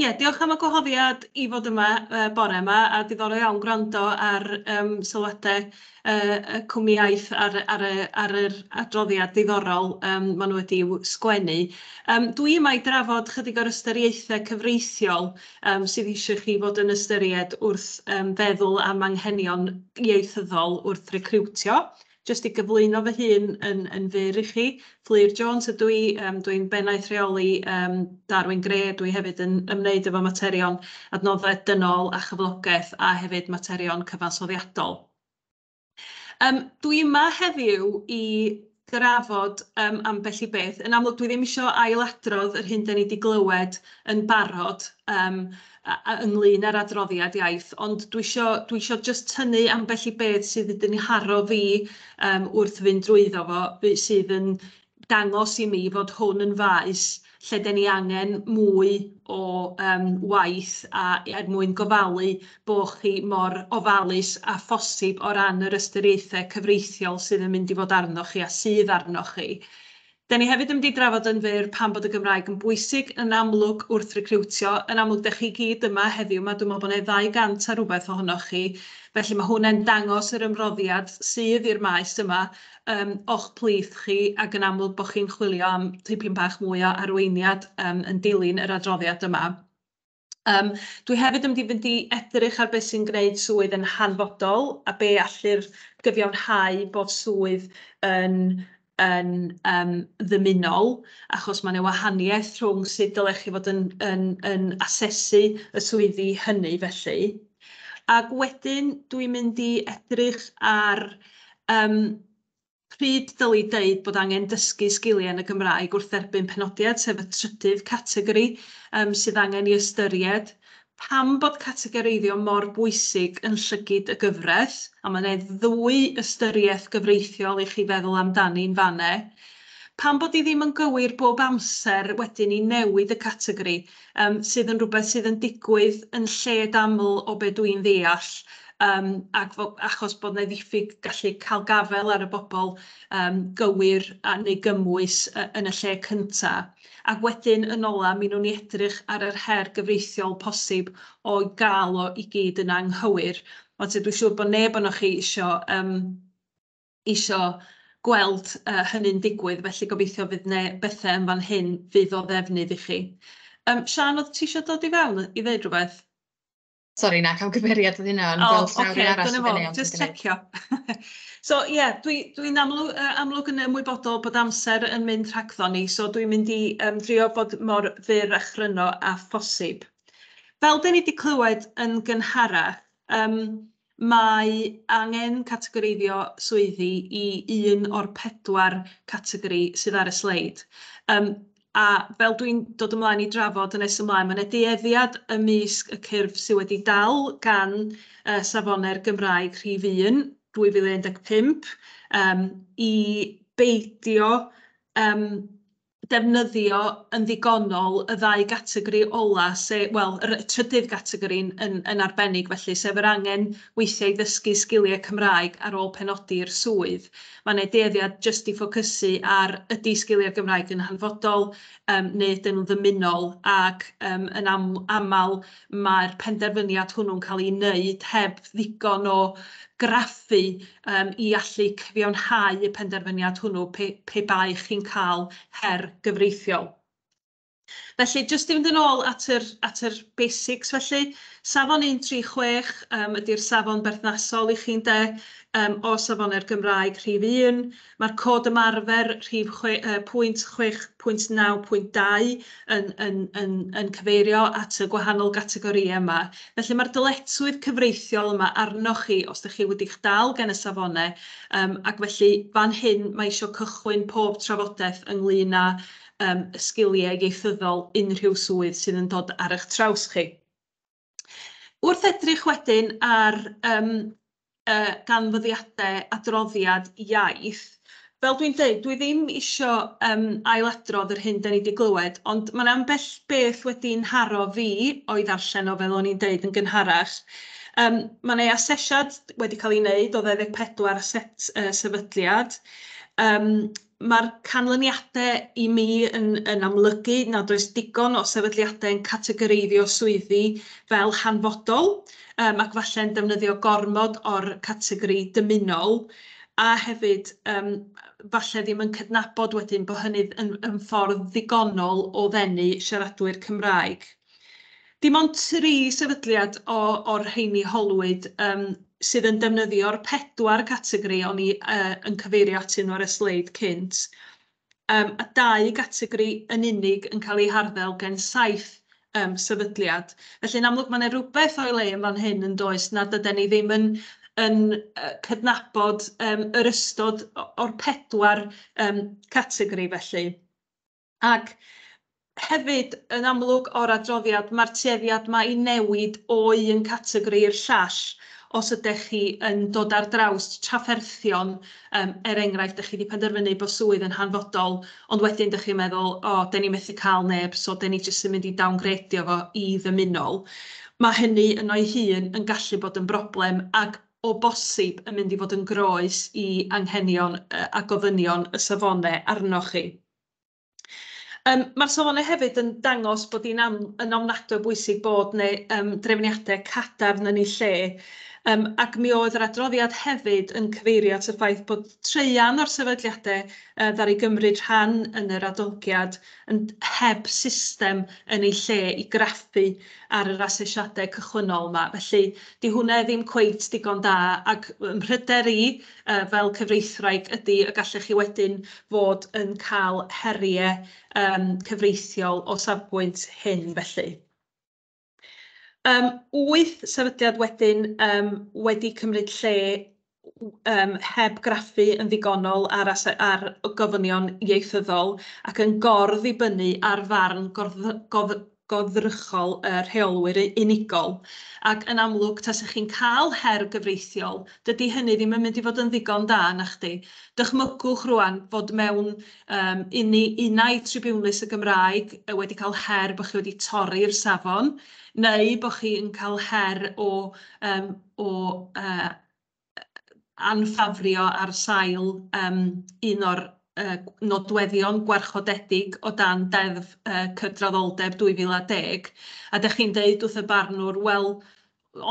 Ie, diolch am y gwahoddiad i fod yma bore 'ma, a diddorol iawn gwrando ar sylwadau y cwmnïaeth ar yr adroddiad diddorol maen nhw wedi i'w sgwennu. Dw i yma i drafod ychydig o'r ystyriaethau cyfreithiol sydd eisiau chi fod yn ystyried wrth feddwl am anghenion ieithyddol wrth recriwtio. Jyst i gyflwyno fy hun yn yn fyr i chi, Fflur Jones ydw i, yym dwi'n Bennaeth Rheoli yym Darwin Grey, dwi hefyd yn ymwneud efo materion adnoddau dynol a chyflogaeth a hefyd materion cyfansoddiadol. Yym dwi yma heddiw i drafod yym ambell i beth, yn amlwg dwi ddim isio ail-adrodd yr hyn 'dan ni 'di glywed yn barod yym ynglŷn â'r adroddiad iaith, ond dwi isio, dwi isio jyst tynnu ambell i beth sydd wedi 'y nharo fi yym wrth fynd drwyddo fo, be- sydd yn dangos i mi fod hwn yn faes lle 'dan ni angen mwy o yym waith a er mwyn gofalu bo' chi mor ofalus â phosib o ran yr ystyriaethau cyfreithiol sydd yn mynd i fod arnoch chi a sydd arnoch chi. Dan ni hefyd yn mynd i drafod yn fyr pam bod y Gymraeg yn bwysig yn amlwg wrth recriwtio. Yn amlwg, dach chi gyd yma heddiw 'ma, dwi'n meddwl bod 'na 200 a rhywbeth ohonoch chi, felly ma' hwnne'n dangos yr ymroddiad sydd i'r maes yma, yym, o'ch plith chi, ac yn amlwg bod chi'n chwilio am tipyn bach mwy o arweiniad, yym, yn dilyn yr adroddiad yma. Um, dwi hefyd yn mynd i fynd i edrych ar beth sy'n gwneud swydd yn hanfodol a be allu'r gyfiawnhau bod swydd yn, yn um, ddymunol, achos mae'n ei wahaniaeth rhwng sut dylech chi fod yn, yn, yn asesu y swyddi hynny felly. Ac wedyn dwi'n mynd i edrych ar um, Pryd ddylid deud bod angen dysgu sgiliau yn y Gymraeg wrth dderbyn penodiad, sef y trydydd categori yym sydd angen i ystyried. Pam bod categoreiddio mor bwysig yn llygid y gyfres, a mae 'ne ddwy ystyriaeth gyfreithiol i chi feddwl amdani'n fan 'ne. Pam bod hi ddim yn gywir bob amser wedyn i newid y categori, um, sydd yn rhywbeth sydd yn digwydd yn lled aml o be dwi'n ddeall, um, ac fo, achos bod yna ddiffyg gallu cael gafel ar y bobl um, gywir a neu gymwys uh, yn y lle cynta. Ac wedyn yn ola, mi nhw'n ni edrych ar yr her gyfreithiol posib o gael o i gyd yn anghywir. Ond sydd dwi'n siŵr bod neb o'n chi eisiau um, isio gweld uh, hynny'n digwydd, felly gobeithio fydd ne bethau yn fan hyn fydd o ddefnydd i chi. Um, Sian, oedd ti eisiau dod i fewn i ddeud rhywbeth? Sorry, na, cam cymeriad oedd hynna, ond fel llawr okay, arall. Dyna fo, just checio. so, ie, yeah, dwi'n dwi amlwg, uh, amlwg yn ymwybodol bod amser yn mynd rhagddo ni, so dwi'n mynd i um, drio bod mor fyr a chryno a phosib. Fel dyn ni wedi clywed yn gynharach, um, Mae angen categoreiddio swyddi i un o'r pedwar categori sydd ar y sleid. Yym, a fel dwi'n dod ymlaen i drafod yn nes ymlaen, mae yna dueddiad ymysg y cyrff sydd wedi dal gan yy Safonau'r Gymraeg Rhif un, 2015, yym, i beidio yym defnyddio yn ddigonol y ddau gategori ola, se- wel, yr y trydydd gategori yn yn yn arbennig felly, sef yr angen weithiau i ddysgu sgiliau Cymraeg ar ôl penodi i'r swydd. Mae 'na dueddiad jyst i ffocysu ar ydy sgiliau'r Gymraeg yn hanfodol yym neu ydyn nhw'n ddymunol ac yym yn am- aml mae'r penderfyniad hwnnw'n cael ei wneud heb ddigon o graffu yym i allu cyfiawnhau y penderfyniad hwnnw pe, pe bai chi'n cael her gyfreithiol. Felly, jyst i fynd yn ôl at yr, at yr basics felly, safon 136 um, ydy'r safon berthnasol i chi'n de, um, o safonau'r Gymraeg rhif 1, Mae'r Cod Ymarfer, rhif chwe- yy pwynt chwech pwynt naw pwynt dau, yn yn yn yn cyfeirio at y gwahanol gategorïau yma. Felly, mae'r dyletswydd cyfreithiol yma arnoch chi os dych chi wedi'ch dal gan y safonau, yym ac felly fan hyn mae eisiau cychwyn pob trafodaeth ynglŷn â yym y sgiliau ieithyddol unrhyw swydd sydd yn dod ar eich traws chi. Wrth edrych wedyn ar um, uh, ganfyddiadau adroddiad iaith, fel dwi'n dweud, dwi ddim eisiau um, ailadrodd yr hyn da ni wedi glywed, ond mae'n ambell beth wedi'n haro fi o'i ddarllen o fel o'n i'n dweud yn gynharach. Um, mae yna asesiad wedi cael ei wneud o 24 set uh, sefydliad, um, Mae'r canlyniadau i mi yn yn amlygu nad oes digon o sefydliadau yn categoreiddio swyddi fel hanfodol yym ac falle'n defnyddio gormod o'r categori dymunol a hefyd yym falle ddim yn cydnabod wedyn bod hynny yn yn ffordd ddigonol o ddenu siaradwyr Cymraeg. Dim ond tri sefydliad o, o'r rheini holwyd, yym, sydd yn defnyddio'r pedwar categori o'n i, yy, yn cyfeirio atyn nhw ar y sleid cynt, yym, a dau gategori yn unig yn cael eu harddel gen saith, yym, sefydliad. Felly, yn amlwg, mae 'na rywbeth o'i le yn fan hyn, yn does, nad ydan ni ddim yn yn yy cydnabod yym yr ystod o- o'r pedwar yym categori felly. Ac hefyd, yn amlwg o'r adroddiad, mae'r tueddiad mae i newid o un categori i'r llall os ydech chi yn dod ar draws trafferthion, yym, er enghraifft, dych chi wedi penderfynu bod swydd yn hanfodol, ond wedyn dych chi'n meddwl, o, dyn ni methu cael neb, so dyn ni jyst yn mynd i dawngredio fo i ddymunol. Mae hynny yno'i hun yn gallu bod yn broblem ac o bosib yn mynd i fod yn groes i anghenion a gofynion y safone arnoch chi. Yym ma'r safonau hefyd yn dangos bod hi'n am- yn ofnadwy o bwysig bod 'ne yym drefniade cadarn yn eu lle yym ac mi oedd yr adroddiad hefyd yn cyfeirio at y ffaith bod traean o'r sefydliade yy ddaru gymryd rhan yn yr adolygiad yn heb system yn eu lle i graffu ar yr asesiade cychwynnol 'ma felly 'di hwnne ddim cweit digon da ac ym mhryder i yy fel cyfreithwraig ydy y gallech chi wedyn fod yn cael heriau yym cyfreithiol o safbwynt hyn felly. Yym wyth sefydliad wedyn yym wedi cymryd lle w- yym heb graffu yn ddigonol ar ase- ar gofynion ieithyddol ac yn gordd-ddibynnu ar farn gorddo- gof- goddrychol y rheolwyr unigol, ac yn amlwg, tasech chi'n cael her gyfreithiol, dydy hynny ddim yn mynd i fod yn ddigon da, nachdi? Dychmygwch rŵan fod mewn yym uni, unai tribiwnlys y Gymraeg wedi cael her bod chi wedi torri'r safon, neu bod chi yn cael her o yym o yy anffafrio ar sail um, un o'r uh, nodweddion gwarchodedig o dan Deddf uh, Cydraddoldeb 2010, a da chi'n deud wrth y barnwr, wel,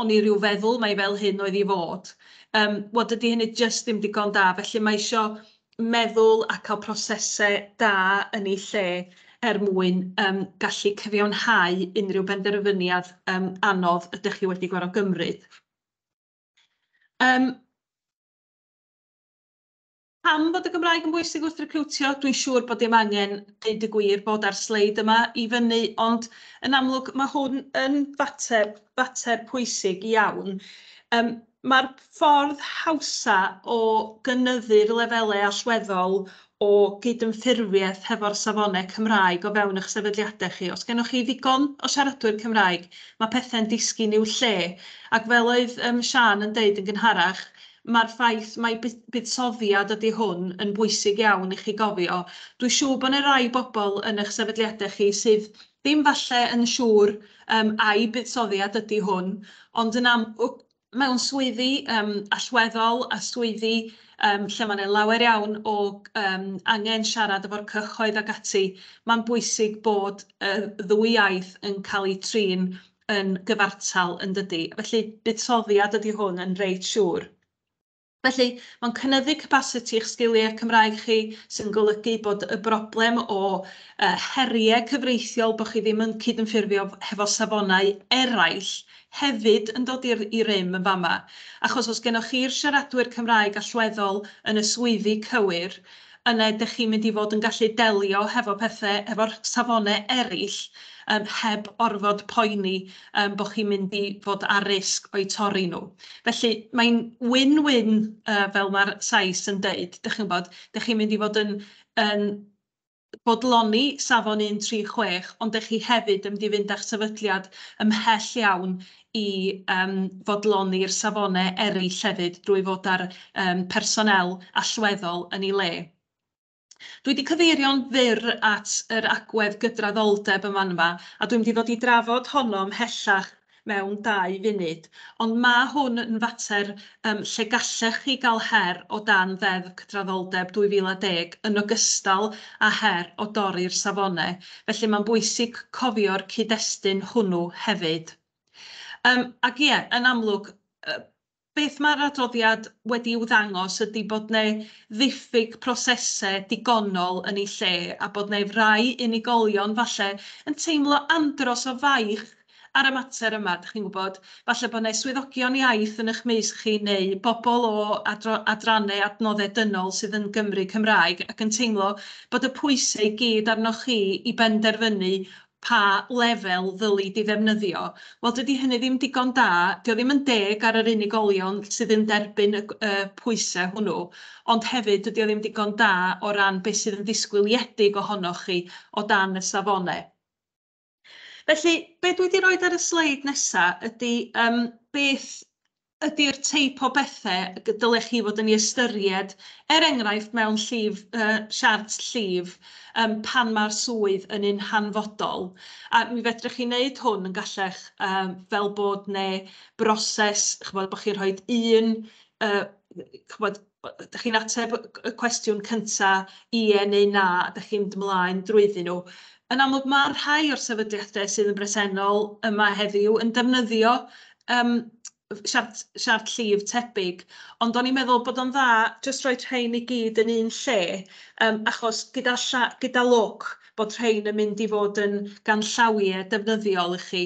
o'n i rhyw feddwl mae fel hyn oedd i fod. Um, wel, dydy hynny jyst ddim digon da, felly mae eisiau meddwl a cael prosesau da yn ei lle er mwyn um, gallu cyfiawnhau unrhyw benderfyniad um, anodd ydych chi wedi gorfod gymryd. Um, Pam bod y Gymraeg yn bwysig wrth recriwtio? Dwi'n siŵr bod dim angen deud y gwir bod ar sleid yma i fyny, ond yn amlwg mae hwn yn fater, fater pwysig iawn. Um, Mae'r ffordd hawsa o gynyddu'r lefelau allweddol o gydymffurfiaeth hefo'r safonau Cymraeg o fewn eich sefydliadau chi. Os gennych chi ddigon o siaradwyr Cymraeg, mae pethau'n disgyn i'w lle. Ac fel oedd um, Sian yn deud yn gynharach, mae'r ffaith mai buddsoddiad ydy hwn yn bwysig iawn i chi gofio. Dwi'n siŵr bod yna rai bobl yn eich sefydliadau chi sydd ddim falle yn siŵr um, ai buddsoddiad ydy hwn, ond yn am, mewn swyddi yym allweddol a swyddi yym lle mae 'na lawer iawn o yym angen siarad efo'r cyhoedd ac ati, mae'n bwysig bod y ddwy iaith yn cael eu trin yn gyfartal, yn dydi? Felly, buddsoddiad ydy hwn yn reit siŵr. Felly, mae'n cynyddu capasiti eich sgiliau Cymraeg chi, sy'n golygu bod y broblem o heriau cyfreithiol, bod chi ddim yn cydymffurfio hefo safonau eraill, hefyd yn dod i rym yn fama. Achos os gennych chi'r siaradwyr Cymraeg allweddol yn y swyddi cywir, yna ydych chi'n mynd i fod yn gallu delio hefo pethe efo'r safone eraill yym heb orfod poeni yym bo' chi'n mynd i fod ar risg o'u torri nhw. Felly mae'n win-win yy fel ma'r Sais yn deud, 'dych chi'n gwybod, 'dych chi'n mynd i fod yn yn bodloni safon un tri chwech ond 'dych chi hefyd yn mynd i fynd â'ch sefydliad ymhell iawn i yym fodloni'r safone eryll hefyd drwy fod â'r yym personél allweddol yn ei le. Dwi 'di cyfeirio'n fyr at yr agwedd gydraddoldeb yn fan'ma, a dwi'n mynd i ddod i drafod honno ymhellach mewn dau funud, ond ma' hwn yn fater yym, lle gallech chi gael her o dan Ddeddf Cydraddoldeb 2010 yn ogystal â her o dorri'r safonau, felly mae'n bwysig cofio'r cyd-destun hwnnw hefyd. Yym, ac ie, yn amlwg, beth mae'r adroddiad wedi i'w ddangos ydy bod yna ddiffyg prosesau digonol yn ei lle a bod yna rai unigolion falle yn teimlo andros o faich Ar y mater yma, dych chi'n gwybod, falle bod yna swyddogion iaith yn eich maes chi neu bobl o adrannau adnoddau dynol sydd yn Gymry Cymraeg ac yn teimlo bod y pwysau i gyd arnoch chi i benderfynu pa lefel ddylid ei ddefnyddio. Wel, dydy hynny ddim digon da, dydy o ddim yn deg ar yr unigolion sydd yn derbyn y pwysau hwnnw, ond hefyd dydy o ddim digon da o ran beth sydd yn ddisgwyliedig ohonoch chi o dan y safonau. Felly, be dwi wedi rhoi ar y sleid nesaf ydy um, beth ydy'r teip o bethau y dylech chi fod yn ei ystyried, er enghraifft mewn llif, uh, siart llif, um, pan mae'r swydd yn un hanfodol. A mi fedrwch chi wneud hwn yn gallech um, fel bod neu broses, chybod, bod chi'n rhoi un uh, chybod, ydych chi'n ateb y cwestiwn cynta, ie neu na, a ydych chi'n mynd ymlaen drwyddyn nhw. Yn amlwg mae rhai o'r sefydliadau sydd yn bresennol yma heddiw yn defnyddio um, siart, siart llif tebyg, ond o'n i'n meddwl bod o'n dda jyst rhoi rhain i gyd yn un lle, um, achos gyda, lla, gyda lwc bod rhain yn mynd i fod yn ganllawiau defnyddiol i chi.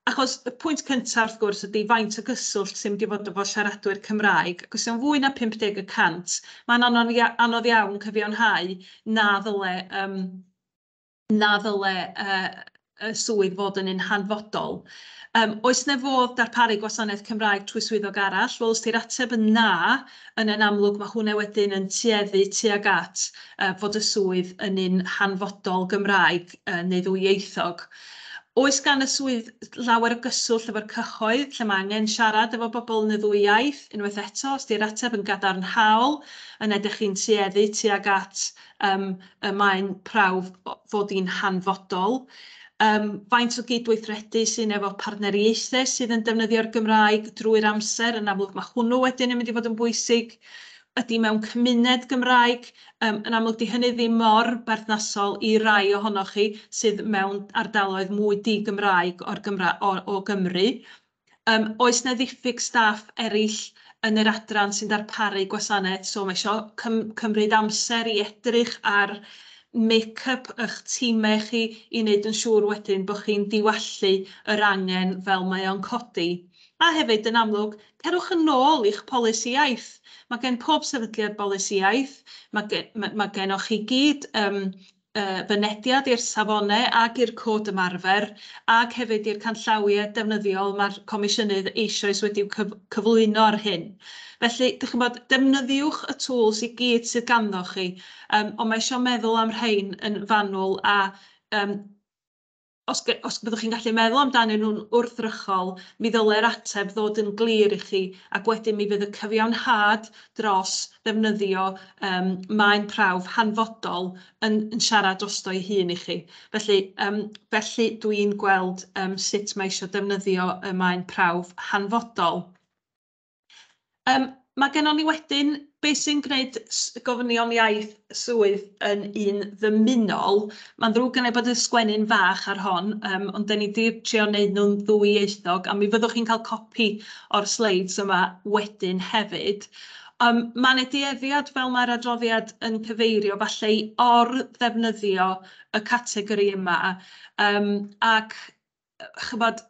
Achos y pwynt cyntaf, wrth gwrs, ydy faint o gyswllt sy'n mynd i fod efo siaradwyr Cymraeg, ac os yw'n fwy na 50 y cant, mae'n anodd ia- anodd iawn cyfiawnhau na ddyle yym na ddyle yy y swydd fod yn un hanfodol. Yym oes 'na fodd darparu gwasanaeth Cymraeg trwy swyddog arall? Wel, os 'di'r ateb yn na, yna yn amlwg ma' hwnna wedyn yn tueddu tuag at yy fod y swydd yn un hanfodol Gymraeg yy neu ddwyieithog. Oes gan y swydd lawer o gyswllt efo'r cyhoedd, lle mae angen siarad efo bobl yn y ddwy iaith? Unwaith eto, os 'di'r ateb yn gadarnhaol, yna dych chi'n tueddu tuag at yym y mae'n prawf fod hi'n hanfodol. Yym, faint o gydweithredu sy'n efo partneriaethau sydd yn defnyddio'r Gymraeg drwy'r amser? Yn amlwg, mae hwnnw wedyn yn mynd i fod yn bwysig. ydy mewn cymuned Gymraeg, yym, yn amlwg 'di hynny ddim mor berthnasol i rai ohonoch chi sydd mewn ardaloedd mwy di-Gymraeg o'r Gymra- o o Gymru. Yym, oes 'na ddiffyg staff eryll yn yr adran sy'n darparu gwasanaeth, so ma' isio cym- cymryd amser i edrych ar make-up 'ych timau chi i wneud yn siŵr wedyn bo' chi'n diwallu yr angen fel mae o'n codi. A hefyd, yn amlwg, cerwch yn ôl i'ch polisi iaith. Mae gen pob sefydliad bolisi iaith, mae mae gennoch chi gyd yym yy fynediad i'r safonau ac i'r cod ymarfer ac hefyd i'r canllawiau defnyddiol mae'r Comisiynydd eisoes wedi'u cyf- cyflwyno ar hyn. Felly, dych chi'n gwybod, defnyddiwch y tŵls i gyd sydd ganddoch chi, yym ond mae eisiau meddwl am rhein yn fanwl a yym os, os byddwch chi'n gallu meddwl amdanyn nhw'n wrthrychol, mi ddylai'r ateb ddod yn glir i chi, ac wedyn mi fydd y cyfiawnhad dros ddefnyddio um, maen prawf hanfodol yn, yn siarad drosto'i hun i chi. Felly, um, felly dwi'n gweld um, sut mae eisiau defnyddio y maen prawf hanfodol. Yym, mae gennon ni wedyn be sy'n gwneud gofynion iaith swydd yn un ddymunol. Mae'n ddrwg gen i bod y sgwennu'n fach ar hon, um, ond da ni wedi trio wneud nhw'n ddwyieithog, a mi fyddwch chi'n cael copi o'r sleids yma wedyn hefyd. Um, mae yna dueddiad fel mae'r adroddiad yn cyfeirio falle i or-ddefnyddio y categori yma, um, ac chybod,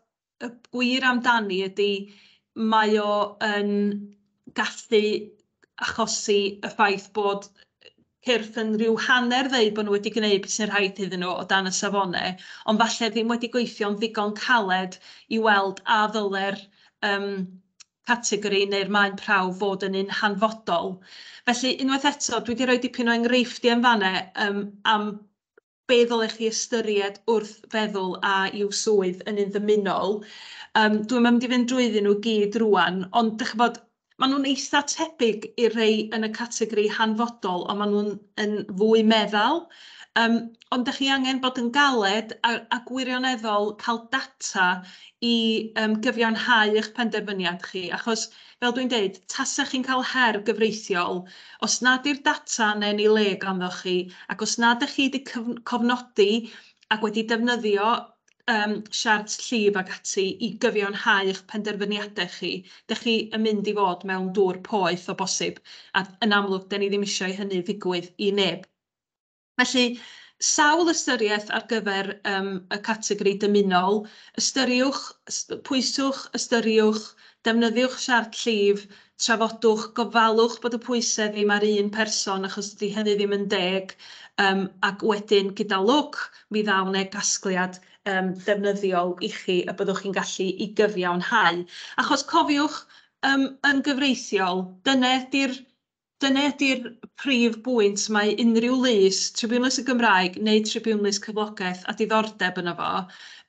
y gwir amdani ydy mae o yn gallu achosi y ffaith bod cyrff yn rhyw hanner ddweud bod nhw wedi gwneud beth sy'n rhaid iddyn nhw o dan y safonau, ond falle ddim wedi gweithio'n ddigon caled i weld a ddyle'r um, categori neu'r maen prawf fod yn un hanfodol. Felly, unwaith eto, dwi wedi rhoi dipyn o enghreifftiau yn fanna um, am be ddylech chi ystyried wrth feddwl a yw swydd yn un ddymunol. Um, dwi'n mynd i fynd drwyddyn nhw gyd rwan, ond dych bod, maen nhw'n eitha tebyg i'r rhai yn y categori hanfodol, ond maen nhw'n yn fwy meddal. Um, ond dych chi angen bod yn galed a, a gwirioneddol cael data i um, gyfiawnhau eich penderfyniad chi, achos fel dwi'n deud, tasech chi'n cael her gyfreithiol, os nad yw'r data yna yn ei le ganddoch chi, ac os nad ydych chi wedi cofnodi ac wedi defnyddio um, siart llif ac ati i gyfiawnhau eich penderfyniadau chi, dych chi yn mynd i fod mewn dŵr poeth o bosib, a yn amlwg, da ni ddim eisiau hynny ddigwydd i neb. Felly, sawl ystyriaeth ar gyfer yym y categori dymunol, ystyriwch, pwyswch, ystyriwch, defnyddiwch siart llif, trafodwch, gofalwch bod y pwysedd ddim ar un person achos dydy hynny ddim yn deg yym ac wedyn gyda lwc mi ddaw 'ne gasgliad yym defnyddiol i chi y byddwch chi'n gallu i gyfiawnhau achos cofiwch yym yn gyfreithiol dyne 'di'r Dyna ydy'r prif bwynt, mae unrhyw lys, tribiwnlys y Gymraeg neu tribiwnlys cyflogaeth a diddordeb yno fo,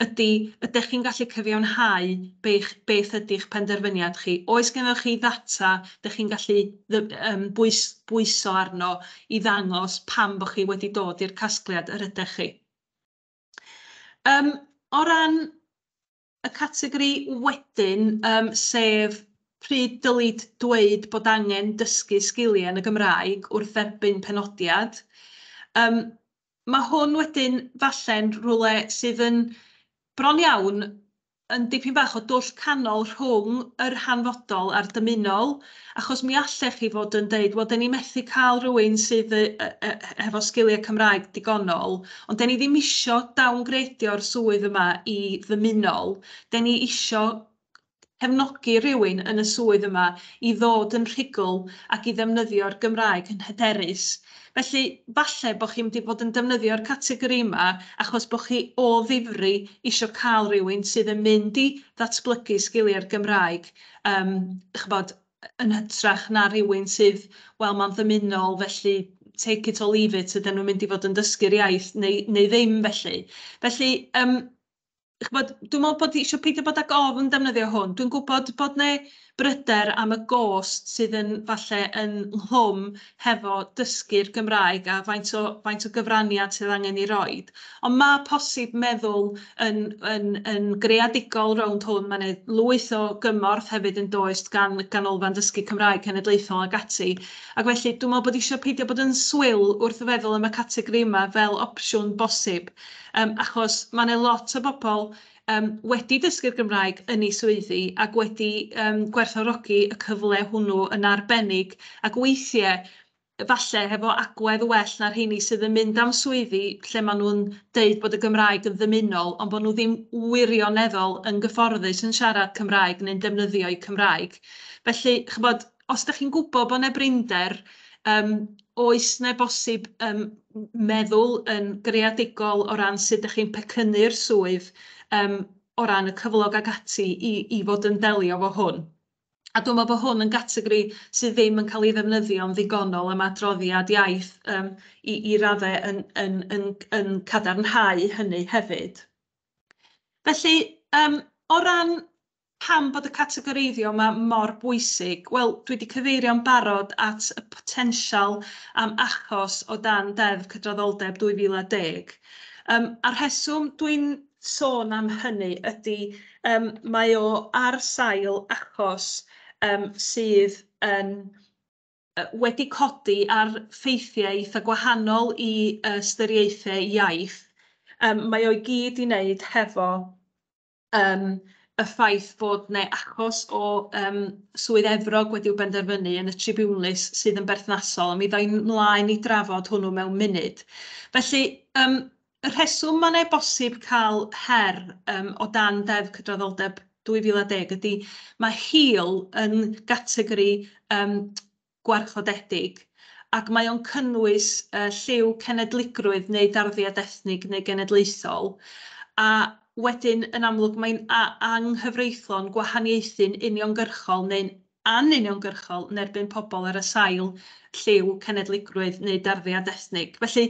ydy, ydych chi'n gallu cyfiawnhau beth beth ydy'ch penderfyniad chi? Oes gennoch chi ddata dych chi'n gallu yym bwys- bwyso arno i ddangos pam bo' chi wedi dod i'r casgliad yr ydech chi? Yym o ran y categori wedyn, um, sef pryd dylid dweud bod angen dysgu sgiliau yn y Gymraeg wrth dderbyn penodiad. Um, mae hwn wedyn falle'n rhywle sydd yn bron iawn yn dipyn bach o dwll canol rhwng yr hanfodol a'r dymunol, Achos mi allech chi fod yn deud, wel, dan ni methu cael rhywun sydd yy yy hefo sgiliau Cymraeg digonol, ond dan ni ddim isio downgradio'r swydd yma i ddymunol, dan ni isio cefnogi rhywun yn y swydd yma i ddod yn rhugl ac i ddefnyddio'r Gymraeg yn hyderus. Felly, falle bod chi'n mynd i fod yn defnyddio'r categori yma achos bod chi o ddifri isio cael rhywun sydd yn mynd i ddatblygu sgiliau'r Gymraeg, Yym, ch'bod, yn hytrach na rhywun sydd, wel, mae'n ddymunol, felly take it or leave it, yden nhw'n mynd i fod yn dysgu'r iaith neu, neu ddim felly. Felly, yym, ch'bod, dwi'n meddwl bod isio peidio bod ag ofn defnyddio hwn. Dwi'n gwybod bod 'na bryder am y gost sydd yn falle ynghlwm hefo dysgu'r Gymraeg a faint o faint o gyfraniad sydd angen ei roid. Ond ma' posib meddwl yn yn yn greadigol rownd hwn, ma' 'ne lwyth o gymorth hefyd yn does gan Ganolfan Dysgu Cymraeg Cenedlaethol ac ati, ac felly dwi me'wl bod isio peidio bod yn swil wrth feddwl am y categori yma fel opsiwn bosib, yym achos ma' 'ne lot o bobol um, wedi dysgu'r Gymraeg yn ei swyddi ac wedi um, gwerthorogi y cyfle hwnnw yn arbennig ac weithiau falle hefo agwedd well na'r rheini sydd yn mynd am swyddi lle maen nhw'n deud bod y Gymraeg yn ddymunol ond bod nhw ddim wirioneddol yn gyfforddus yn siarad Cymraeg neu'n defnyddio'u Cymraeg. Felly, chybod, os dach chi'n gwybod bod 'na brinder, yym, oes 'na bosib yym m- meddwl yn greadigol o ran sut dach chi'n pecynnu'r swydd yym o ran y cyflog ac ati i i fod yn delio efo hwn? A dwi'n meddwl bod hwn yn gategori sydd ddim yn cael ei ddefnyddio'n ddigonol am adroddiad iaith yym i i raddau yn yn yn yn cadarnhau hynny hefyd. Felly yym o ran Pam bod y categoreiddio yma mor bwysig? Wel, dwi wedi cyfeirio'n barod at y potensial am achos o dan Ddeddf Cydraddoldeb 2010. Yym, a'r rheswm dwi'n sôn am hynny ydy yym mae o ar sail achos yym sydd yn wedi codi ar ffeithiau eitha' gwahanol i ystyriaethau iaith. Yym mae o i gyd i wneud hefo yym y ffaith bod 'na achos o yym Swydd Efrog wedi'w benderfynu yn y tribiwnlys sydd yn berthnasol, a mi ddoi mlaen i drafod hwnnw mewn munud. Felly, yym, y rheswm mae'n ei bosib cael her um, o dan Deddf Cydraddoldeb 2010 ydy mae hil yn gategori um, gwarchodedig, ac mae o'n cynnwys y lliw cenedligrwydd neu darddiad ethnig neu genedlaethol, a wedyn, yn amlwg, mae'n anghyfreithlon gwahaniaethu'n uniongyrchol neu'n anuniongyrchol yn erbyn pobl ar y sail lliw cenedligrwydd neu darddiad ethnig. Felly,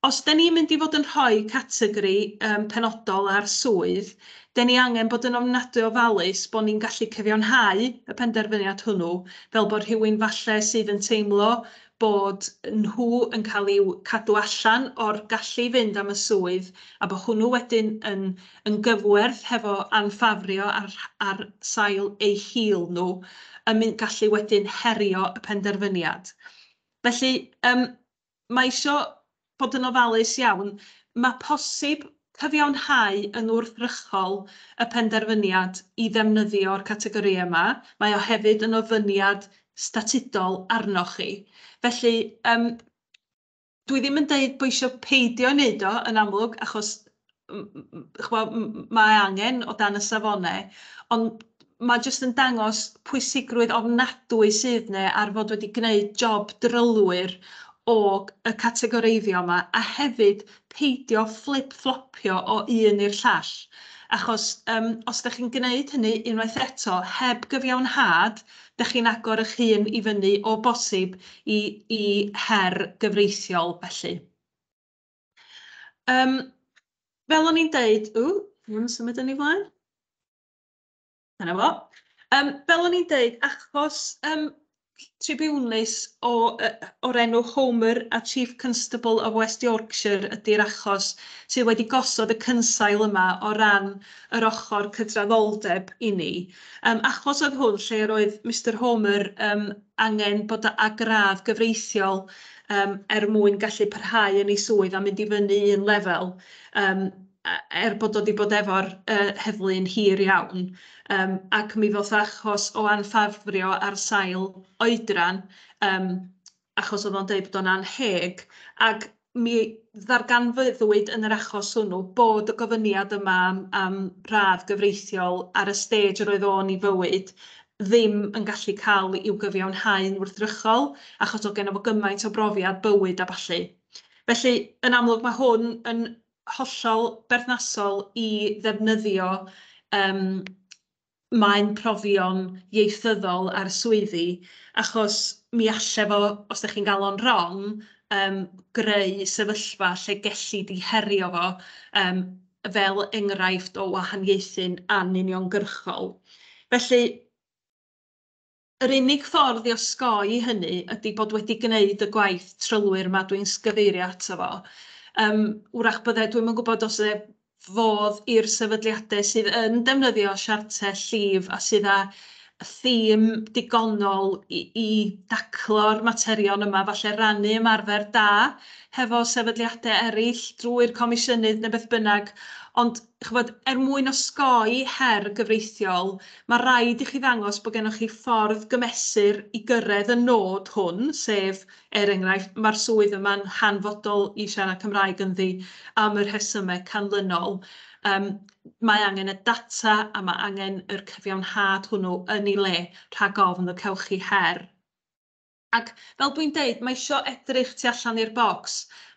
Os 'da ni'n mynd i fod yn rhoi categori yym penodol ar swydd, 'da ni angen bod yn ofnadwy ofalus bod ni'n gallu cyfiawnhau y penderfyniad hwnnw, fel bod rhywun falle sydd yn teimlo bod nhw yn cael i'w cadw allan o'r gallu i fynd am y swydd, a bod hwnnw wedyn yn yn gyfwerth hefo anffafrio ar ar sail eu hil nhw, yn mynd gallu wedyn herio y penderfyniad. Felly, yym, mae isio bod yn ofalus iawn. Mae posib cyfiawnhau yn wrthrychol y penderfyniad i ddefnyddio'r categorïau yma. Mae o hefyd yn ofyniad statudol arnoch chi. Felly, yym, dwi ddim yn deud bod isio peidio wneud o, yn amlwg, achos chwbod, mae angen o dan y safonau, ond mae jyst yn dangos pwysigrwydd ofnadwy sydd neu ar fod wedi gwneud job drylwyr o y categoreiddio yma, a hefyd peidio fflip-fflopio o un i'r llall. Achos um, os da chi'n gwneud hynny unwaith eto, heb gyfiawnhad, da chi'n agor eich hun i fyny o bosib i, i her gyfreithiol felly. Um, fel o'n i'n deud, ww, dwi'n symud yn ei flaen. Dyna fo. Um, fel o'n i'n deud, achos um, tribiwnus o, uh, o'r enw Homer a Chief Constable of West Yorkshire ydy'r achos sydd wedi gosod y cynsail yma o ran yr ochr cydraddoldeb i ni. Um, achos oedd hwn lle yr oedd Mr Homer um, angen bod â gradd gyfreithiol yym er mwyn gallu parhau yn ei swydd a mynd i fyny un lefel yym a- er bod o 'di bod efo'r yy heddlu'n hir iawn yym ac mi ddoth achos o anffafrio ar sail oedran yym achos o'dd o'n deud bod o'n annheg ag mi ddarganfyddwyd yn yr achos hwnnw bod y gofyniad yma am am radd gyfreithiol ar y stêj yr oedd o'n 'i fywyd ddim yn gallu cael i'w gyfiawnhau'n wrthrychol achos oedd geno fo gymaint o brofiad bywyd a ballu. Felly, yn amlwg, mae hwn yn hollol berthnasol i ddefnyddio yym maen profion ieithyddol ar swyddi, achos mi alle fo, os dach chi'n gael o'n wrong, yym greu sefyllfa lle gelli di herio fo, yym. fel enghraifft o wahaniaethu'n anuniongyrchol. Felly, yr unig ffordd i osgoi hynny ydy bod wedi gwneud y gwaith trylwyr yma dwi'n gyfeirio ato fo. Yym, wrach bydde, dwi'm yn gwybod os e fodd i'r sefydliadau sydd yn defnyddio siartau llif a sydd â thîm digonol i, i daclo'r materion yma, falle rannu ymarfer da hefo sefydliadau eraill drwy'r comisiynydd neu beth bynnag, ond chybod, er mwyn osgoi her gyfreithiol, mae rhaid i chi ddangos bod gennych chi ffordd gymesur i gyrraedd y nod hwn, sef, er enghraifft, mae'r swydd yma'n hanfodol i siarad Cymraeg ynddi am y rhesymau canlynol. Um, mae angen y data a mae angen yr cyfiawnhad hwnnw yn ei le rhag ofn y cewch chi her. Ac, fel dwi'n deud, mae isio edrych tu allan i'r bocs.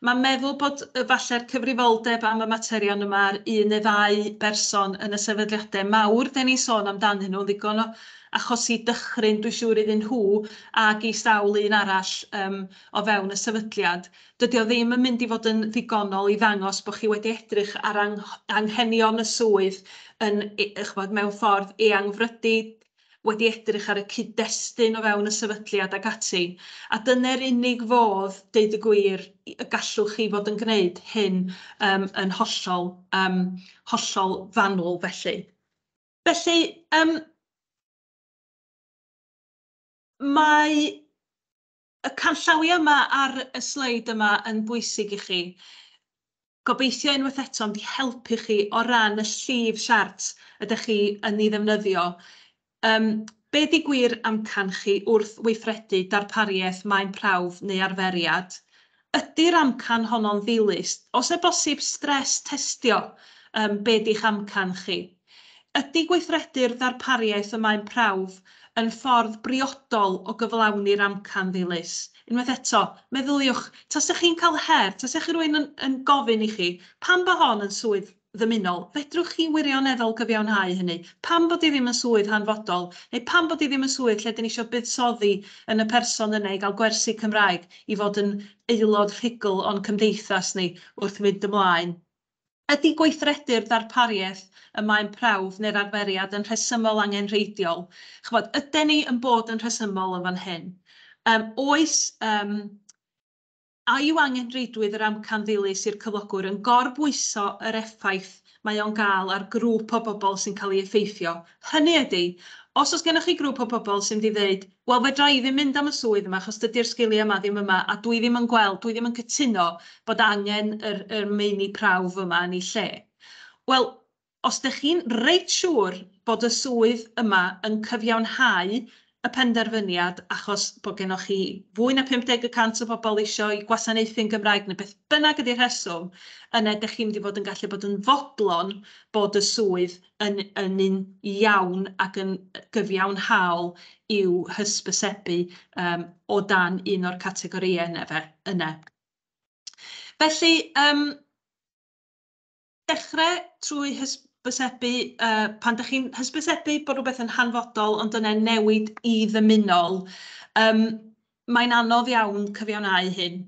Mae meddwl bod efalle'r cyfrifoldeb am y materion yma ar un neu ddau berson yn y sefydliadau mawr 'den ni'n sôn amdanyn nhw'n ddigon o achosi dychryn dwi'n siŵr iddyn nhw ag i sawl un arall yym o fewn y sefydliad. Dydy o ddim yn mynd i fod yn ddigonol i ddangos bod chi wedi edrych ar anghenion y swydd yn, ch'mod, mewn ffordd eangfrydu, wedi edrych ar y cyd-destun o fewn y sefydliad ac ati, a dyne'r unig fodd, deud y gwir, y gallwch chi fod yn gwneud hyn yym yn hollol yym hollol fanwl felly. Felly yym mae Y canllawiau yma ar y sleid yma yn bwysig i chi. Gobeithio unwaith eto yn di helpu chi o ran y llif siart ydych chi yn ei ddefnyddio. Um, be di gwir amcan chi wrth weithredu darpariaeth maen prawf neu arferiad? Ydi'r amcan honno'n ddilys? Os e bosib stress testio yym be di'ch amcan chi. Ydi gweithredu'r ddarpariaeth y mae'n prawf yn ffordd briodol o gyflawni'r amcan ddilys? Unwaith eto, meddyliwch, tase chi'n cael her, tase chi rywun yn yn gofyn i chi, pam bo hon yn swydd ddymunol. Fedrwch chi wirioneddol gyfiawnhau hynny? Pam bod hi ddim yn swydd hanfodol? Neu pam bod hi ddim yn swydd lle 'dyn ni isio buddsoddi yn y person yna i gael gwersi Cymraeg, i fod yn aelod rhugl o'n cymdeithas ni wrth fynd ymlaen? Ydy gweithredu'r ddarpariaeth y mae'n prawf neu'r arferiad yn rhesymol angenrheidiol? Chibod, yden ni yn bod yn rhesymol yn fan hyn? Yym, oes, yym, A yw angen reidrwydd yr amcan ddilys i'r cyflogwr yn gorbwyso yr effaith mae o'n gael ar grŵp o bobl sy'n cael ei effeithio? Hynny ydi, os oes gennych chi grŵp o bobl sy'n mynd i ddeud, 'Wel, fedra i ddim mynd am y swydd yma achos dydy'r sgiliau yma ddim yma a dwi ddim yn gweld, dwi ddim yn cytuno bod angen yr, yr meini prawf yma yn ei lle'. Wel, os dych chi'n reit siŵr bod y swydd yma yn cyfiawnhau y penderfyniad achos bod gennoch chi fwy na 50 y cant o bobl eisiau gwasanaethu'n Gymraeg neu beth bynnag ydy'r rheswm, yna dych chi'n mynd i fod yn gallu bod yn fodlon bod y swydd yn yn un iawn ac yn gyfiawnhaol i'w hysbysebu yym o dan un o'r categorïau yna fe yna. Felly yym. dechrau trwy hysbysebu, uh, pan ydych chi'n hysbysebu bod rhywbeth yn hanfodol ond dyna newid i ddymunol, um, mae'n anodd iawn cyfiawnau hyn.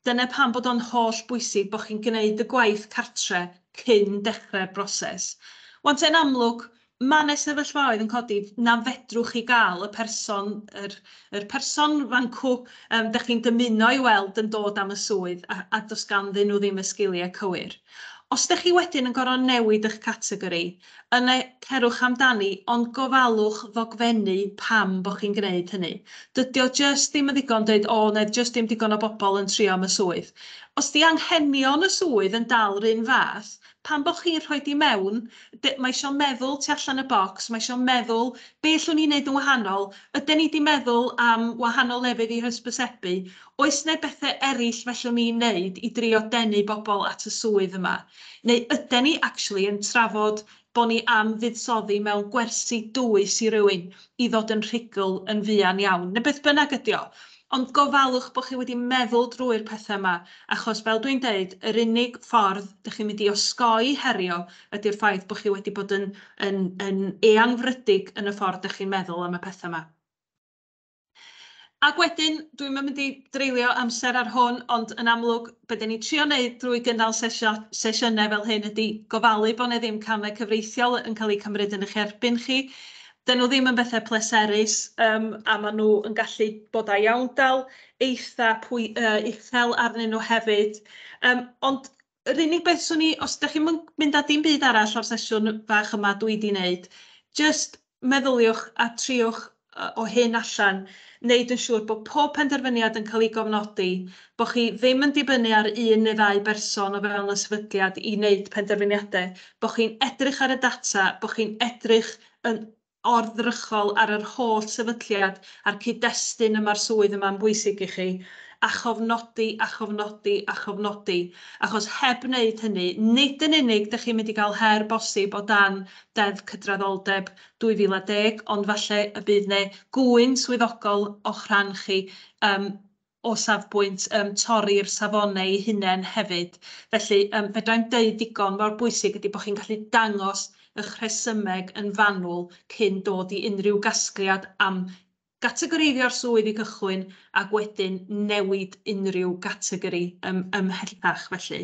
Dyna pam bod o'n holl bwysig bod chi'n gwneud y gwaith cartre cyn dechrau'r broses. Wante yn amlwg, Mae 'na sefyllfaoedd yn codi na fedrwch chi gael y person, yr yr person fancŵ yym dach chi'n dymuno ei weld yn dod am y swydd a a does ganddyn nhw ddim y sgiliau cywir. Os dach chi wedyn yn gorfod newid eich categori, yna cerwch amdani ond gofalwch ddogfennu pam bod chi'n gwneud hynny. Dydy o jyst ddim yn ddigon deud 'o 'na jyst ddim digon o bobl yn trio am y swydd'. Os 'di anghenion y swydd yn dal 'run fath, Pan bo chi'n rhoi di mewn, de, mae isio meddwl tu allan y bocs, mae isio meddwl be llwn ni wneud yn wahanol, yden ni di meddwl am wahanol lefydd i hysbysebu, oes ne bethe erill fellwn ni wneud i drio denu bobl at y swydd yma? Neu yden ni actually yn trafod bo ni am fuddsoddi mewn gwersi dwys i rywun i ddod yn rhugl yn fuan iawn, ne beth bynnag ydi o. Ond gofalwch bod chi wedi meddwl drwy'r pethau yma, achos fel dwi'n deud, yr unig ffordd dych chi'n mynd i osgoi herio ydy'r ffaith bod chi wedi bod yn, yn, yn eangfrydig yn y ffordd dych chi'n meddwl am y pethau yma. Ac wedyn, dwi'm yn mynd i dreulio amser ar hwn, ond yn amlwg, be dyn ni'n trio wneud drwy gynnal sesio, sesiynau fel hyn ydy gofalu bod 'na ddim camau cyfreithiol yn cael eu cymryd yn eich erbyn chi, 'dyn nhw ddim yn bethau pleserus yym a maen nhw yn gallu bod â iawndal eitha pwy, yy, uchel arnyn nhw hefyd yym ond yr unig beth swn i os dach chi'm yn mynd â dim byd arall o'r sesiwn fach yma dwi 'di wneud jyst meddyliwch a triwch yy, o hyn allan wneud yn siŵr bod pob penderfyniad yn cael ei gofnodi, bod chi ddim yn dibynnu ar un neu ddau berson o fewn y sefydliad i wneud penderfyniadau, bod chi'n edrych ar y data, bod chi'n edrych yn ardderchol ar yr holl sefydliad a'r cyd-destun y mae'r swydd yma'n bwysig i chi, a chofnodi a chofnodi a chofnodi, achos heb wneud hynny, nid yn unig dych chi'n mynd i gael her bosib o dan Deddf Cydraddoldeb 2010, ond falle y bydd 'ne gŵyn swyddogol o'ch rhan chi, yym, o safbwynt yym torri'r safonau eu hunain hefyd. Felly yym fedra i'm deud digon mor bwysig ydy bod chi'n gallu dangos ych rhesymeg yn fanwl cyn dod i unrhyw gasgliad am gategoreiddio'r swydd i gychwyn ac wedyn newid unrhyw gategori yym ymhellach felly.